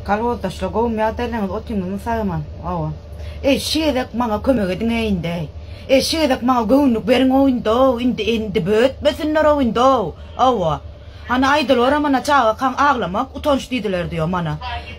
Kolhozdaşlar gowmy ýagdaýlaryňyz otyňyzmy sagman oba eý şi gezek maňa kömek ediňä indeý eý şi gezek maňa göwünlik beriňow indow indi indi bötmesinlerow indow oba hany aýdyloram ana çagakaň aglamak utanç diýdiler diýo mana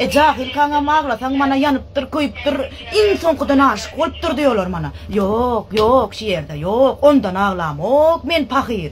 e jahylkaňam aglasaň mana ýanypdyr köýüpdir iň soňkudan aşyk bolupdyr diýoler mana ýok ýok şi ýerde ýok ondan aglamok men pahyr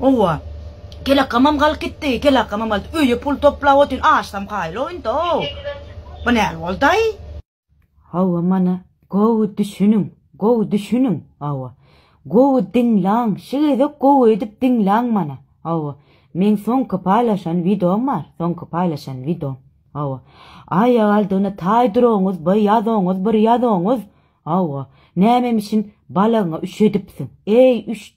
Howwa. Kelakamam galyp gitdi, kelakamam galyp öýe pul toplap otyryn, açsam kaýyl oýundy-ow. Bu näl boldaý? Howwa mana gowy düşüniň, gowy düşüniň, howwa. Gowy diňlaň, şi gezek gowy edip diňlaň mana, howwa. Meň soňky paýlaşan wideom bar, soňky paýlaşan wideom, howwa. Aýagaldygyna taýdyroňyz by ýazoňyz bir ýazoňyz, howwa. Nämemişin balagyňa üşedipsiň, eý üş.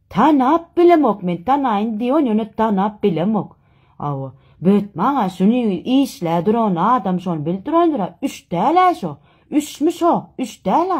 Tanap bilemok men tanaýyn diýon ýöne tanap bilemok awa böt maňa şuny işlä duran adam şony bil durandyra üç dälä şo üçmi şo üç dälä.